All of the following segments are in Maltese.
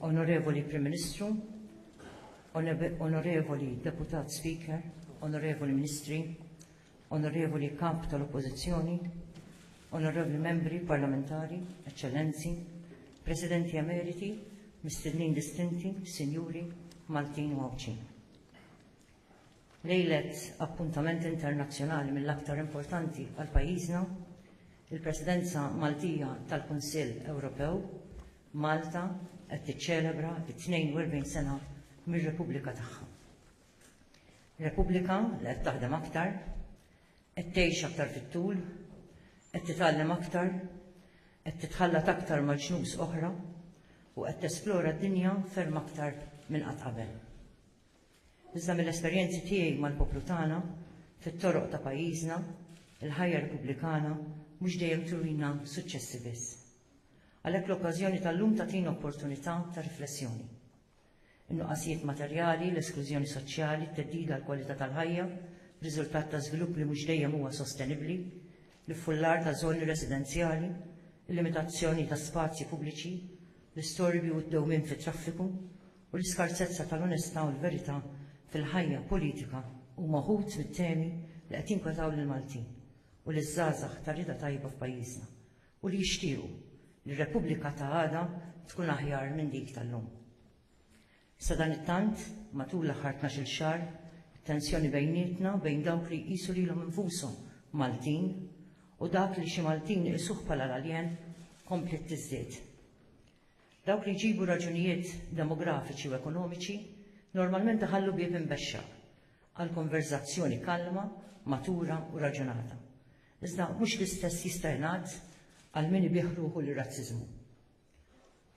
Onorevoli Prim Ministru, Onorevoli Deputat Speaker, Onorevoli Ministri, Onorevoli Kap tal-Oppożizzjoni, Onorevoli Membri Parlamentari, Eċċellenzi, Presidenti Emeriti, Mistednin Distinti, Sinjuri, Maltin u Għawdxin. Lejlet appuntament internazzjonali mill-aktar importanti għal pajjiżna, il-Presidenza Maltija tal-Kunsill Ewropew, Malta qed tiċċelebra t-42 sena mir-Repubblika tagħha. Repubblika li qed taħdem aktar, qed tgħix aktar fit-tul, qed titgħallem aktar, qed titħallat aktar ma' ġnus oħra u qed tesplora d-dinja ferm aktar minn qatt qabel. Iżda mill-esperjenzi tiegħi mal-poplu tagħna, fit-toroq ta' pajjiżna, il-ħajja Repubblikana mhux dejjem turina suċċessi biss. Għalhekk l-okkażjoni tal-lum tagħtina opportunità ta' riflessjoni. in-nuqqasijiet materjali, l-esklużjoni soċjali, t-theddid għall-kwalità tal-ħajja b'riżultat ta' żvilupp li mhux dejjem huwa sostenibbli, l-iffullar ta' żoni residenzjali, il-limitazzjoni ta' spazji pubbliċi, l-istorbju u d-dewmien fit-traffiku, u l-iskarsezza tal-onestà u l-verità fil-ħajja politika huma wħud mit-temi li qed jinkwetaw lill-Maltin u liż-żgħażagħ tar-rieda tajba f'pajjiżna, u li jixtiequ li r-Repubblika ta' għada tkun aħjar minn dik tal-lum. Sadanittant, matul l-aħħar tnax-il xahar, it-tensjoni bejnietna, bejn dawk li jqisu lilhom infushom Maltin u dak li xi Maltin iqisuh bħala l-aljen, kompliet tiżdied. Dawk li jġibu raġunijiet demografiċi u ekonomiċi normalment iħallu bieb imbexxaq għal konverżazzjoni kalma, matura u raġunata. Iżda mhux l-istess jista' jingħad għal min ibigħ ruħu lir-razziżmu.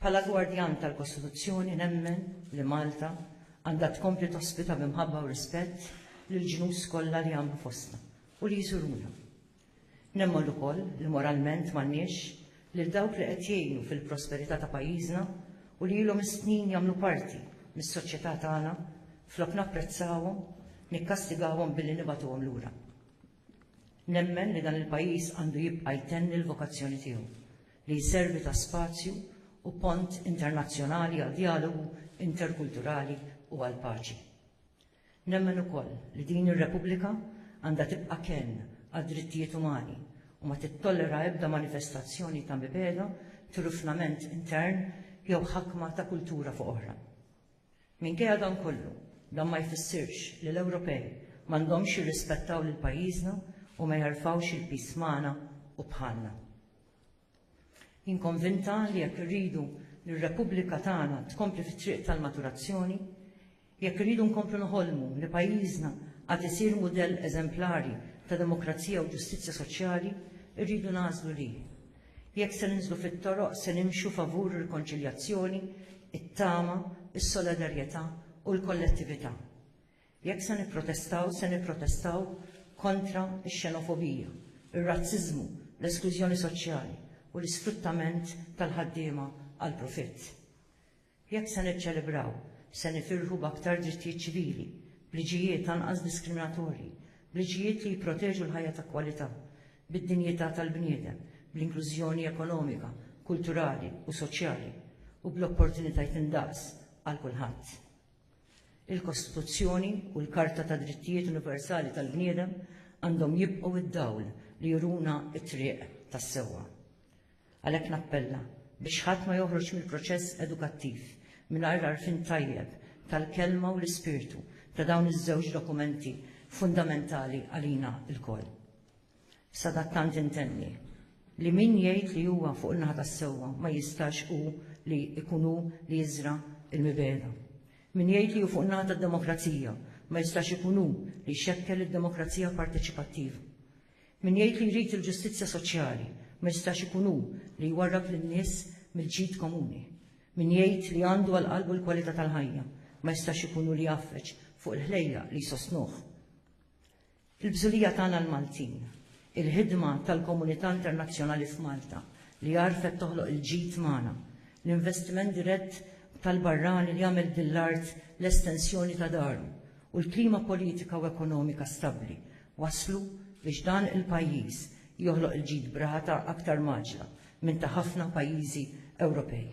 Bħala gwardjan tal-Kostituzzjoni nemmen li Malta għandha tkompli tospita bi mħabba u rispett lill-ġnus kollha li jagħmlu fostna u li jżuruna. Nemmen ukoll li moralment m'għandniex lil dawk li qed jgħinu fil-prosperità ta' pajjiżna u li ilhom is-snin jagħmlu parti mis-soċjetà tagħna flok napprezzawhom, nikkastigawhom billi nibagħtuhom lura. Nemmen li dan il-pajjiż għandu jibqa' jtenni l-vokazzjoni tiegħu, li jservi ta' spazju u pont internazzjonali għad-djalogu interkulturali u għall-paċi. Nemmen ukoll li din ir-Repubblika għandha tibqa' kenn għad-drittijiet umani u ma tittollera ebda manifestazzjoni ta' mibegħda, trufnament intern jew ħakma ta' kultura fuq oħra. Minkejja dan kollu, dan ma jfissirx li l-Ewropej m'għandhomx jirrispettaw lil pajjiżna u ma jerfgħux il-piż magħna u bħalna. Jien konvinta li jekk irridu li r-Repubblika tagħna tkompli fit-triq tal-maturazzjoni, jekk irridu nkomplu noħolmu li pajjiżna għad isir mudell eżemplari ta' demokrazija u ġustizzja soċjali, irridu nagħżlu li, Jekk se ninżlu fit-toroq se nimxu favur ir-rikonċiljazzjoni, it-tama, is-solidarjetà u l-kollettività. Jekk se nipprotestaw se nipprotestaw kontra x-xenofobija, ir-razziżmu, l-esklużjoni soċjali u l-isfruttament tal-ħaddiema għall-profitt. Jekk se niċċelebraw, se nifirħu b'aktar drittijiet ċivili, b'liġijiet anqas diskriminatorji, b'liġijiet li jipproteġu l-ħajja ta' kwalità, bid-dinjità tal-bniedem, bl-inklużjoni ekonomika, kulturali u soċjali, u bl-opportunitajt indaqs għal kulħadd. Il-Kostituzzjoni u l-Karta tad-Drittijiet Universali tal-Bniedem għandhom jibqgħu d-dawl li juruna t-triq tas-sewwa. Għalhekk nappella biex ħadd ma joħroġ mill-proċess edukattiv mingħajr għarfien tajjeb tal-kelma u l-ispirtu ta' dawn iż-żewġ dokumenti fundamentali għalina lkoll. Sadattant intenni li min jgħid li huwa fuq in-naħa tas-sewwa ma jistax hu li jkun hu li jiżra' l-mibegħda. Min jgħid li hu fuq in-naħa tad-demokrazija ma jistax ikun hu li jxekkel id-demokrazija parteċipattiva. Min jgħid li jrid il-ġustizzja soċjali ma jistax ikun hu li jwarrab lin-nies mill-ġid komuni. Min jgħid li għandu għal qalbu l-kwalità tal-ħajja ma jistax ikun hu li jgħaffeġ fuq il-ħlejjaq li jsostnuh. Il-bżulija tagħna l-Maltin, il-ħidma tal-komunità internazzjonali f'Malta li għarfet toħloq il-ġid magħna, l-investiment dirett tal-barrani li għamel din l-art l-estensjoni ta' daru u l-klima politika u ekonomika stabbli wasslu biex dan il-pajjiż joħloq il-ġid b'rata aktar mgħaġġla minn ta' ħafna pajjiżi Ewropej.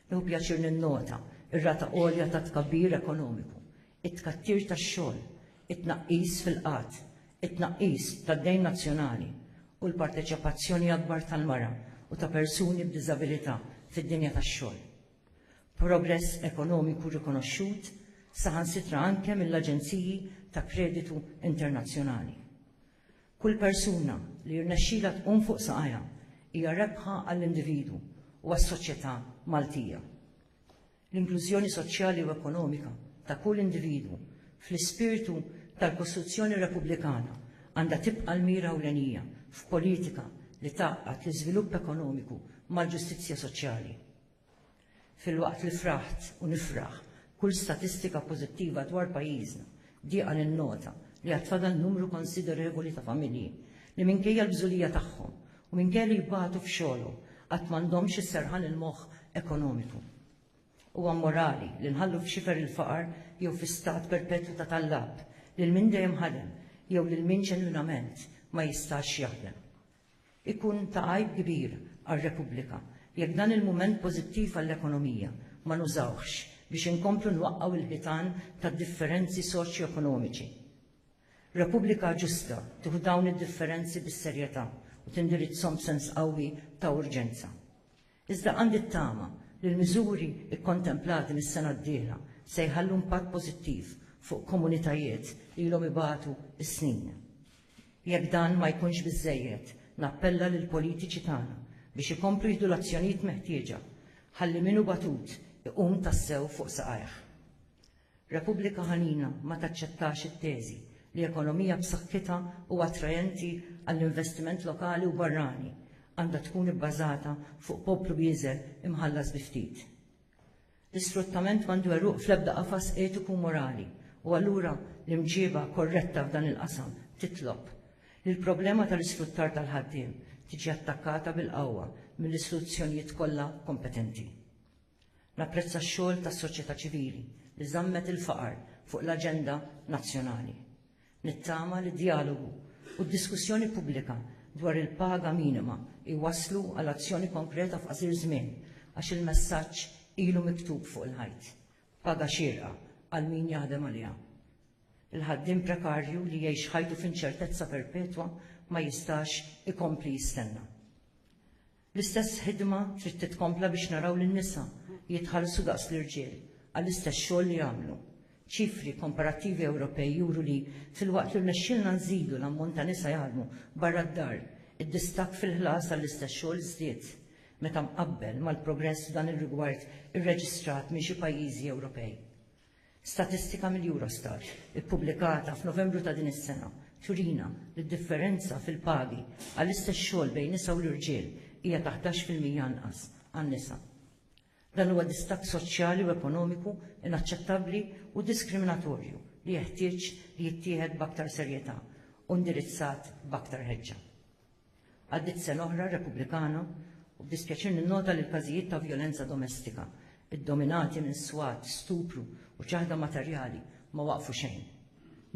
Nieħu pjaċir ninnota r-rata għolja ta' tkabbir ekonomiku, it-tkattir tax-xogħol, it-tnaqqis fil-qgħad, it-tnaqqis tad-dejn nazzjonali u l-parteċipazzjoni akbar tal-mara u ta' persuni b'diżabilità fid-dinja tax-xogħol. progress ekonomiku rikonoxxut saħansitra anke mill-aġenziji ta' kreditu internazzjonali. Kull persuna li jirnexxilha tqum fuq saqajha hija rebħa għall-individwu u għas-soċjetà Maltija. L-inklużjoni soċjali u ekonomika ta' kull individwu fl-ispirtu tal-Kostituzzjoni Repubblikana għandha tibqa' l-mira ewlenija f'politika li tgħaqqad l-iżvilupp ekonomiku mal-ġustizzja soċjali. Filwaqt li fraħt u nifraħ kull statistika pożittiva dwar pajjiżna, dieqa ninnota li għad fadal numru konsiderevoli ta' familji li minkejja l-bżulija tagħhom u minkejja li jbatu f'xogħolhom għad m'għandhomx is-serħan il-moħħ ekonomiku. Huwa mmorali li nħallu f'xifer il-faqar jew fi stat perpetwu ta' tallab lil min dejjem ħadem jew lil min ġenwinament ma jistax jaħdem. Ikun ta' għajb kbir għar-Repubblika jekk dan il-mument pożittiv għall-ekonomija ma nużawhx biex inkomplu nwaqqgħu l-ħitan tad-differenzi soċjoekonomiċi. Repubblika ġusta tieħu dawn id-differenzi bis-serjetà u tindirizzhom b'sens qawwi ta' urġenza. Iżda għandi t-tama li l-miżuri kkontemplati mis-sena d-dieħla se jħallu impatt pożittiv fuq komunitajiet li ilhom ibatu s-snin. Jekk dan ma jkunx biżżejjed, nappella lill-politiċi tagħna biex ikomplu jieħdu l-azzjonijiet meħtieġa ħalli min hu batut iqum tassew fuq saqajh. Repubblika Ħanina ma taċċettax it-teżi li ekonomija b'saħħitha u attraenti għall-investiment lokali u barrani għandha tkun ibbażata fuq poplu bieżel imħallas bi ftit. L-isfruttament m'għandu għeruq fl-ebda qafas etiku u morali, u allura l-imġieba korretta f'dan il-qasam titlob li l-problema tal-isfruttar tal-ħaddiem tiġi attakkata bil-qawwa mill-istituzzjonijiet kollha kompetenti. Napprezza x-xogħol tas-soċjetà ċivili li żammet il-faqar fuq l-aġenda nazzjonali. Nittama li d-djalogu u d-diskussjoni pubblika dwar il-paga minima jwasslu għal azzjoni konkreta f'qasir żmien għax il-messaġġ ilu miktub fuq il-ħajt, paga xierqa għal min jaħdem għaliha. Il-ħaddiem prekarju li jgħix ħajtu f'inċertezza perpetwa ma jistax ikompli jistenna. L-istess ħidma trid titkompla biex naraw lin-nisa jitħallsu daqs l-irġiel għall-istess xogħol li jagħmlu. Ċifri komparattivi Ewropej juru li, filwaqt li rnexxielna nżidu l-ammont ta' nisa jaħdmu barra d-dar, id-distakk fil-ħlas għall-istess xogħol żdied, meta mqabbel mal-progress f'dan ir-rigward irreġistrat minn xi pajjiżi Ewropej. Statistika mill-Eurostat ippubblikata f'Novembru ta' din is-sena turina li d-differenza fil-pagi għall-istess xogħol bejn nisa u l-irġiel hija ta' ħdax fil-mija anqas għan-nisa. Dan huwa distakk soċjali u ekonomiku inaċċettabbli u diskriminatorju li jeħtieġ li jittieħed b'aktar serjetà u indirizzat b'aktar ħeġġa. Għaddiet sena oħra Repubblikana u b'dispjaċir ninnota li l-każijiet ta' vjolenza domestika, iddominati minn swat, stupru u ċaħda materjali, ma waqfu xejn.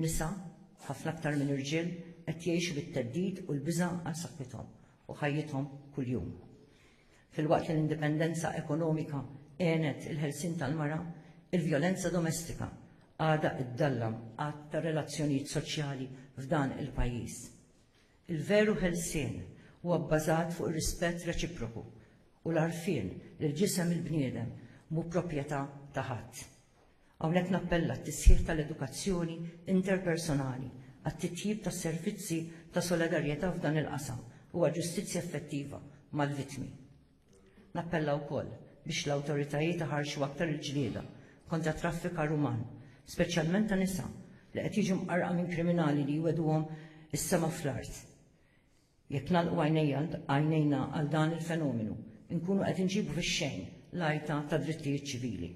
Nisa, ħafna aktar minn irġiel, qed jgħixu bit-theddid u l-biża' għal saħħithom u ħajjithom kuljum. Filwaqt li l-indipendenza ekonomika għenet il-ħelsien tal-mara, il-vjolenza domestika għadha ddallam għadd ta' relazzjonijiet soċjali f'dan il-pajjiż. Il-veru ħelsien huwa bbażat fuq ir-rispett reċiproku u l-għarfien li l-ġisem il-bniedem mhu proprjetà ta' ħadd. Hawnhekk nappella għat-tisħiħ tal-edukazzjoni interpersonali, għat-titjib tas-servizzi ta' solidarjetà f'dan il-qasam u għal ġustizzja effettiva mal-vittmi. Nappella wkoll biex l-awtoritajiet iħarrxu aktar il-ġlieda kontra t-traffikar uman, speċjalment ta' nisa, li qed jiġu mqarrqa minn kriminali li jwegħduhom is-sema fl-art. Jekk nagħlqu għajnejna għal dan il-fenomenu, inkunu qed inġibu fix-xejn l-għajta tad-drittijiet ċivili.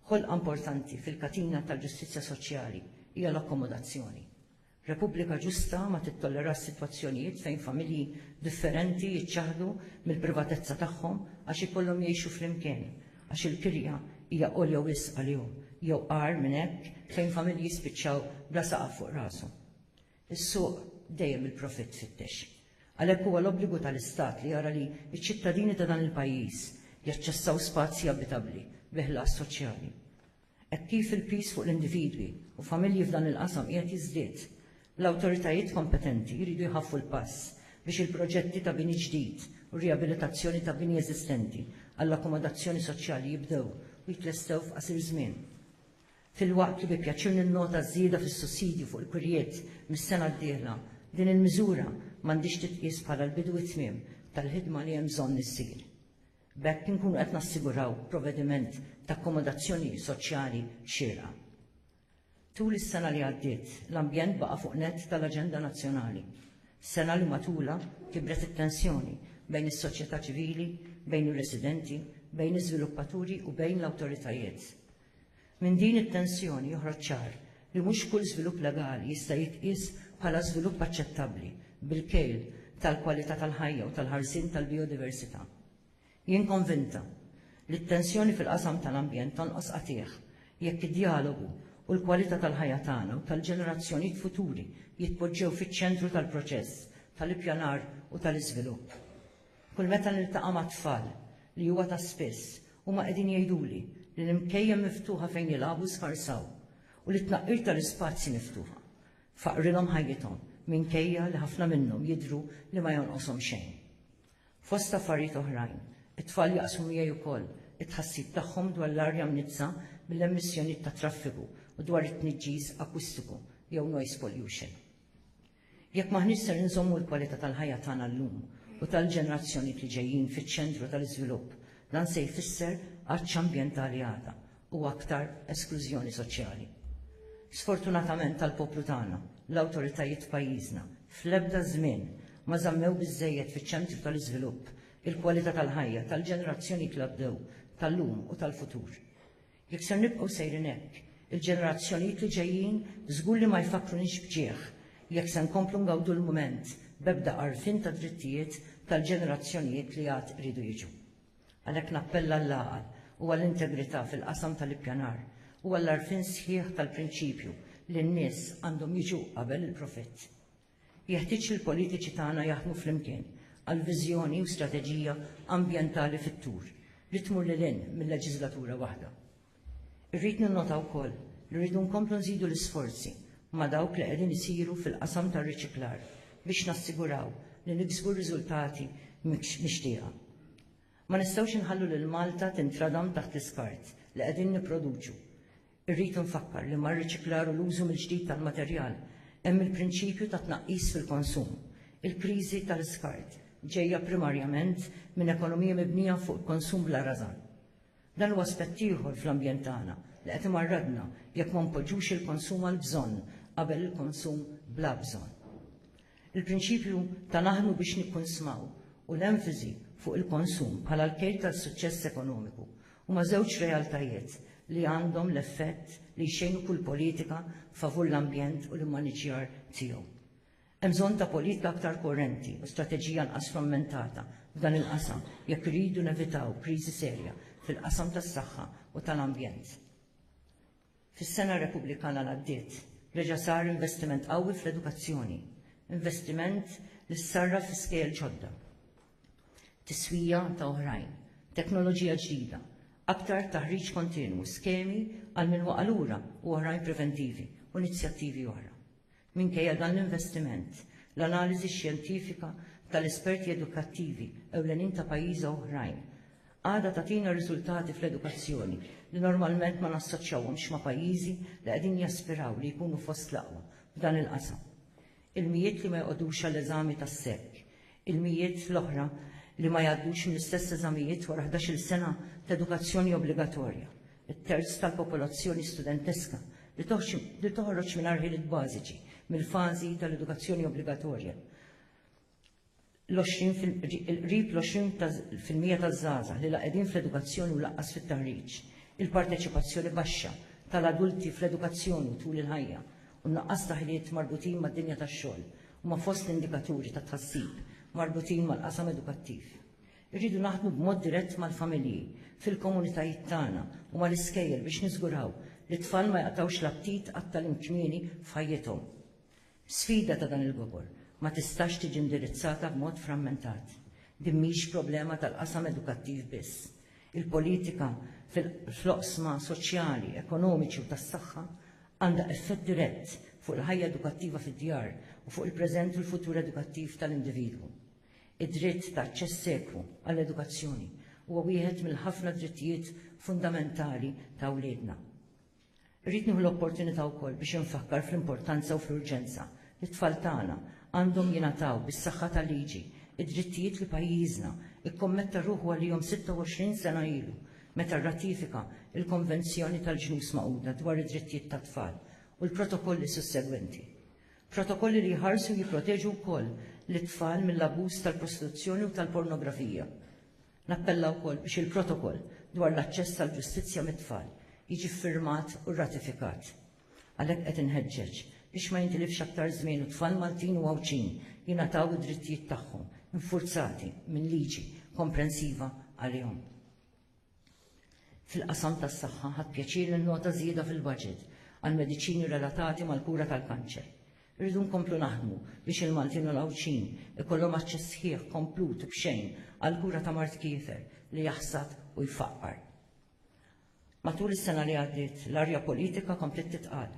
Ħolqa importanti fil-katina tal-ġustizzja soċjali hija l-akkomodazzjoni. Repubblika ġusta ma tittollerax sitwazzjonijiet fejn familji differenti jiċċaħħdu mill-privatezza tagħhom għax ikollhom jgħixu flimkien għax il-kirja hija għolja wisq għalihom jew, agħar minn hekk, fejn familji jispiċċaw bla saqaf fuq rashom. Is-suq dejjem il-profitt tfittex. Għalhekk huwa l-obbligu tal-Istat li jara li ċ-ċittadini ta' dan il-pajjiż jaċċessaw spazji abitabbli bi ħlas soċjali. Hekk kif il-piż fuq l-individwi u familji f'dan il-qasam qiegħed jiżdied, l-awtoritajiet kompetenti jridu jħaffu l-pass biex il-proġetti ta' bini ġdid u rijabilitazzjoni ta' bini eżistenti għall-akkomodazzjoni soċjali jibdew u jitlestew f'qasir żmien. Filwaqt li bi pjaċir ninnota ż-żieda fis-sussidju fuq il-kurjiet mis-sena d-dieħla, din il-miżura m'għandhiex titqies bħala l-bidu u t-tmiem tal-ħidma li hemm bżonn issir. B'hekk inkunu qed nassiguraw provediment ta' akkomodazzjoni soċjali xierqa. Tul is-sena li għaddiet, l-ambjent baqa' fuq nett tal-aġenda nazzjonali. Sena li matulha kibret it-tensjoni bejn is-soċjetà ċivili, bejn ir-residenti, bejn iż-żviluppaturi u bejn l-awtoritajiet. Minn din it-tensjoni joħroġ ċar li mhux kull żvilupp legali jista' jitqies bħala żvilupp aċċettabbli bil-kejl tal-kwalità tal-ħajja u tal-ħarsien tal-bijodiversità. Jien konvinta li t-tensjoni fil-qasam tal-ambjent tonqos qatiegħ jekk id-djalogu u l-kwalità tal-ħajja tagħna u tal-ġenerazzjonijiet futuri jitpoġġew fiċ-ċentru tal-proċess tal-ippjanar u tal-iżvilupp. Kull meta niltaqa' mat-tfal, li huwa ta' spiss, huma qegħdin jgħiduli li l-imkejjen miftuħa fejn jilagħbu sfarsaw u li t-tnaqqir tal-ispazji miftuħa faqqrilhom ħajjithom minkejja li ħafna minnhom jidhru li ma jonqoshom xejn. Fost affarijiet oħrajn, it-tfal jaqsmu miegħi wkoll it-tħassib tagħhom dwar l-arja mniġġsa mill-emissjonijiet tat-traffiku u dwar it-tniġġiż akustiku jew noise pollution. Jekk m'aħniex ser inżommu l-kwalità tal-ħajja tagħna llum u tal-ġenerazzjonijiet li ġejjin fiċ-ċentru tal-iżvilupp, dan se jfisser għatx ambjentali għada u aktar esklużjoni soċjali. Sfortunatament għall-poplu tagħna, l-awtoritajiet f'pajjiżna fl-ebda żmien ma żammew biżżejjed fiċ-ċentru tal-iżvilupp il-kwalità tal-ħajja tal-ġenerazzjonijiet li għaddew, tal-lum u tal-futur. Jekk ser nibqgħu sejrin hekk, il-ġenerazzjonijiet li ġejjin żgur li ma jfakkrunix b'ġieħ jekk se nkomplu ngawdu l-mument b'ebda għarfien tad-drittijiet tal-ġenerazzjonijiet li għad iridu jiġu. Għalhekk nappella għall-għaqal u għall-integrità fil-qasam tal-ippjanar u għall-għarfien sħiħ tal-prinċipju li n-nies għandhom jiġu qabel il-profitt. Jeħtieġ li l-politiċi tagħna jaħdmu flimkien għal viżjoni u strateġija ambjentali fit-tul li tmur lil hinn mil-leġiżlatura waħda. Irrid ninnota wkoll li rridu nkomplu nżidu l-isforzi ma' dawk li qegħdin isiru fil-qasam tar-riċiklar biex nassiguraw li niksbu r-riżultati mixtieqa. Ma nistgħux inħallu lil Malta tintradam taħt l-iskart li qegħdin nipproduċu. Irrid infakkar li mar-riċiklar u l-użu mill-ġdid tal-materjal hemm il-prinċipju ta' tnaqqis fil-konsum. Il-kriżi tal-iskart ġejja primarjament minn ekonomija mibnija fuq il-konsum bla rażan. Dan huwa aspett ieħor fl-ambjent tagħna li qed imarradna jekk ma npoġġux il-konsum għall-bżonn qabel il-konsum bla bżonn. Il-prinċipju ta' naħdmu biex nikkunsmaw u l-enfiżi fuq il-konsum bħala l-kejl tal-suċċess ekonomiku Huma żewġ realtajiet li għandhom l-effett li jxejnu kull politika favur l-ambjent u l-immaniġġjar tiegħu. Hemm bżonn ta' politika aktar koerenti u strateġija anqas frammentata f'dan il-qasam jekk irridu nevitaw kriżi serja fil-qasam tas-saħħa u tal-ambjent. Fis-sena Repubblikana li għaddiet reġa' sar investiment qawwi fl-edukazzjoni, investiment li ssarraf fi skejjel ġodda, tiswija ta' oħrajn, teknoloġija ġdida, aktar taħriġ kontinwu, skemi għal min waqa' lura u oħrajn preventivi u inizjattivi oħra. Minkejja dan l-investiment, l-analiżi xjentifika tal-esperti edukattivi ewlenin ta' pajjiża oħrajn għadha tagħtina riżultati fl-edukazzjoni li normalment ma nassoċjawhomx ma' pajjiżi li qegħdin jaspiraw li jkunu fost l-aqwa f'dan il-qasam. Il-mijiet li ma joqogħdux għall-eżami tas-SEC, il-mijiet l-oħra li ma jgħaddux mill-istess eżamijiet wara ħdax-il sena t'edukazzjoni obbligatorja, it-terz tal-popolazzjoni studenteska li toħroġ mingħajr ħiliet bażiċi mill-fażi tal-edukazzjoni obbligatorja, l-qrib l-20 fil-mija taż-żgħażagħ li la qegħdin fl-edukazzjoni u lanqas fit-taħriġ, il-parteċipazzjoni baxxa tal-adulti fl-edukazzjoni tul il-ħajja u n-nuqqas ta' ħiliet marbutin mad-dinja tax-xogħol huma fost l-indikaturi ta' tħassib marbutin mal-qasam edukattiv. Irridu naħdmu b'mod dirett mal-familji, fil-komunitajiet tagħna u mal-iskejjel biex niżguraw li t-tfal ma jaqtgħux l-aptit għat-tagħlim kmieni f'ħajjithom. Sfida ta' dan il-gobor ma tistax tiġi indirizzata b'mod frammentat. Din mhix problema tal-qasam edukattiv biss. Il-politika fl-oqsma soċjali, ekonomiċi u tas-saħħa għandha effett dirett fuq il-ħajja edukattiva fid-djar u fuq il-preżent u l-futur edukattiv tal-individwu. Id-dritt ta' aċċess ekwu għall-edukazzjoni huwa wieħed mill-ħafna drittijiet fundamentali ta' wliedna. Irrid nieħu l-opportunità wkoll biex infakkar fl-importanza u fl-urġenza li t-tfal tagħna għandhom jingħataw, bis-saħħa tal-liġi, id-drittijiet li pajjiżna kkommetta ruħu għalihom 26 sena ilu meta rratifika l-Konvenzjoni tal-Ġnus Magħquda dwar id-Drittijiet tat-Tfal u l-protokolli sussegwenti. Protokolli li jħarsu u jipproteġu wkoll lit-tfal mill-abbuż tal-prostituzzjoni u tal-pornografija. Nappella wkoll biex il-Protokoll dwar l-aċċess għall-ġustizzja mit-tfal jiġi ffirmat u rratifikat. Għalhekk qed inħeġġeġ biex ma jintilifx aktar żmien u t-tfal Maltin u Għawdxin jingħataw id-drittijiet tagħhom infurzati minn liġi komprensiva għalihom. Fil-qasam tas-saħħa, ħadt pjaċir ninnota żieda fil-baġit għall-mediċini relatati mal-kura tal-kanċer. Irridu nkomplu naħdmu biex il-Maltin u l-Għawdxin ikollhom aċċess sħiħ, komplut u b'xejn għall-kura ta' mard kiefer li jaħsad u jfaqqar. Matul is-sena li għaddiet, l-arja politika kompliet titqal.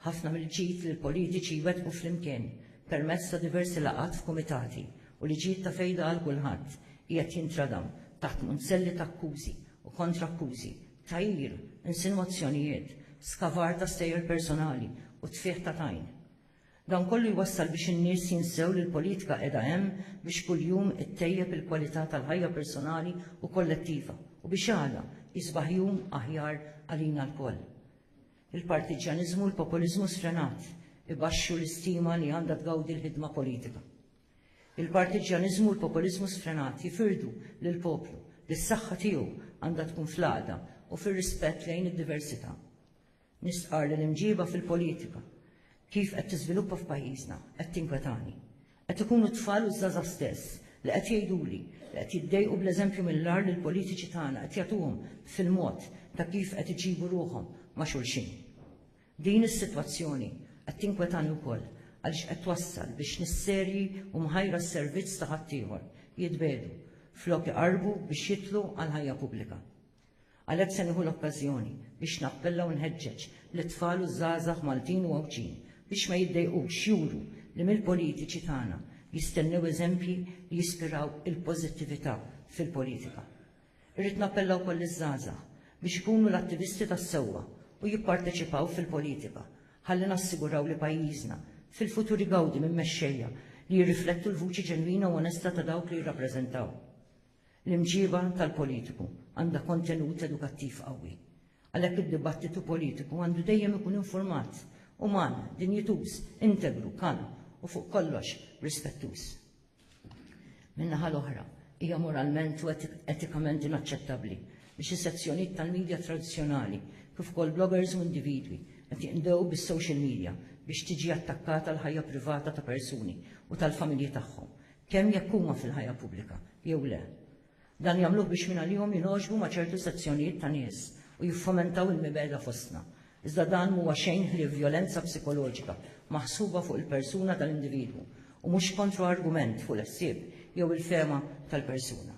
Ħafna mill-ġid li l-politiċi jwettqu flimkien permezz ta' diversi laqgħat f'kumitati u li ġid ta' fejda għal kulħadd qiegħed jintradam taħt munzelli ta' akkużi u kontra-akkużi tgħir, insinwazzjonijiet, skavar ta' stejjer personali u tfigħ ta' tajn. Dan kollu jwassal biex in-nies jinsew li l-politika qiegħda hemm biex kuljum ittejjeb il-kwalità tal-ħajja personali u kollettiva u biex għada jisbaħ jum aħjar għalina lkoll. Il-partiġġjaniżmu u l-populiżmu sfrenat ibaxxu l-istima li għandha tgawdi l-ħidma politika. Il-partiġġjaniżmu u l-populiżmu sfrenat jifirdu lill-poplu li s-saħħa tiegħu għandha tkun fl-għaqda u fir-rispett lejn id-diversità. Nistqarr li l-imġiba fil-politika kif qed tiżviluppa f'pajjiżna qed tinkwetani. Qed ikunu t-tfal u ż-żgħażagħ stess li qed jgħiduli li qed jiddejqu bl-eżempju mill-agħar li l-politiċi tagħna qed jagħtuhom fil-mod ta' kif qed iġibu ruħhom ma' xulxin. Din is-sitwazzjoni qed tinkwetani wkoll għaliex qed twassal biex nies serji u mħajra s-servizz ta' ħaddieħor jitbiegħdu flok iqarrbu biex jidħlu għall-ħajja pubblika. Għalhekk se nieħu l-okkażjoni biex nappella u nħeġġeġ lit-tfal u ż-żgħażagħ Maltin u Għawdxin biex ma jiddejqux juru li mill-politiċi tagħna jistennew eżempji li jispiraw il-pożittività fil-politika. Irrid nappella wkoll liż-żgħażagħ biex ikunu l-attivisti tas-sewwa u jipparteċipaw fil-politika ħalli nassiguraw li pajjiżna fil-futur igawdi minn mexxejja li jirriflettu l-vuċi ġenwina u onesta ta' dawk li jirrappreżentaw. L-imġieba tal-politiku għandha kontenut edukattiv qawwi. Għalhekk id-dibattitu politiku għandu dejjem ikun infurmat, uman, dinjituż, integru, kalm u fuq kollox rispettuż. Min-naħa l-oħra, hija moralment u etikament inaċċettabbli li xi sezzjonijiet tal-midja tradizzjonali, kif ukoll bloggers u individwi, qed jinqdew bis-social media biex tiġi attakkata l-ħajja privata ta' persuni u tal-familji tagħhom, kemm jekk huma fil-ħajja pubblika jew le. Dan jagħmluh biex mingħalihom jingħoġbu ma' ċertu sezzjonijiet ta' nies u jiffomentaw il-mibegħda fostna. Iżda dan m'huwa xejn ħlief vjolenza psikoloġika maħsuba fuq il-persuna tal-individwu u mhux kontroargument fuq l-ħsieb jew il-fehma tal-persuna.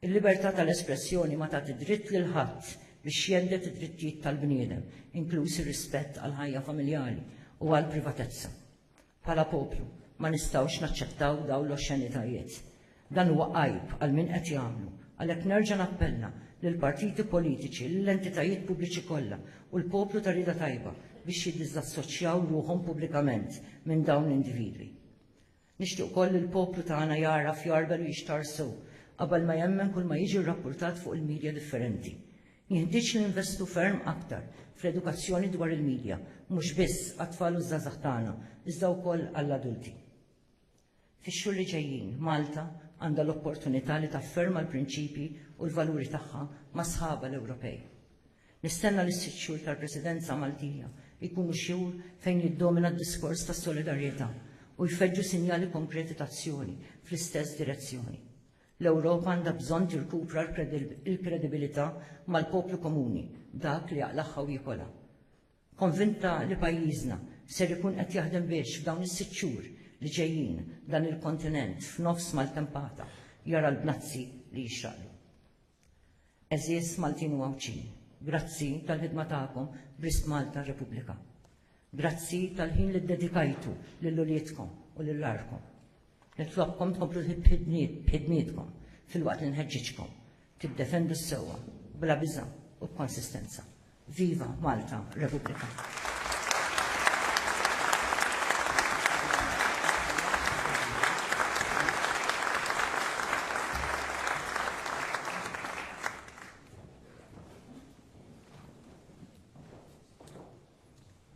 Il-libertà tal-espressjoni ma tagħti dritt lil ħadd biex jhedded id-drittijiet tal-bniedem, inkluż ir-rispett għall-ħajja familjali u għall-privatezza. Bħala poplu ma nistgħux naċċettaw dawn l-oxxenitajiet. Dan huwa għajb għal min qed jagħmlu. Għalhekk nerġa' nappella lill-partiti politiċi, lill-entitajiet pubbliċi kollha u l-poplu ta' rieda tajba biex jiddiżassoċjaw ruħhom pubblikament minn dawn l-individwi. Nixtieq ukoll li l-poplu tagħna jagħraf, jagħrbel u jixtarr sew qabel ma jemmen kull ma jiġi rrappurtat fuq il-midja differenti. Jenħtieġ ninvestu ferm aktar fl-edukazzjoni dwar il-midja, mhux biss għat-tfal u ż-żgħażagħ tagħna, iżda wkoll għall-adulti. Fix-xhur li ġejjin, Malta għandha l-opportunità li tafferma l-prinċipji u l-valuri tagħha ma' sħabha l-Ewropej. Nistenna li s-sitt xhur tal-Presidenza Maltija jkunu xhur fejn jiddomina d-diskors ta' solidarjetà u jfeġġu sinjali konkreti ta' azzjoni fl-istess direzzjoni. L-Ewropa għandha bżonn tirkupra l-kredibilità mal-poplu komuni, dak li jaqlagħha u jikolha. Konvinta li pajjiżna ser ikun qed jaħdem biex f'dawn is-sitt xhur li ġejjin dan il-kontinent f'nofs maltempata jara l-bnazzi li jixraqlu. Għeżież Maltin u Għawdxin, grazzi tal-ħidma tagħkom b'risq Malta Repubblika. Grazzi tal-ħin li ddedikajtu lil uliedkom u lil għarkom. Nitlobkom tkomplu b'ħidmietkom filwaqt li nħeġġiġkom tiddefendu s-sewwa bla biża' u b'konsistenza. Viva Malta Repubblika!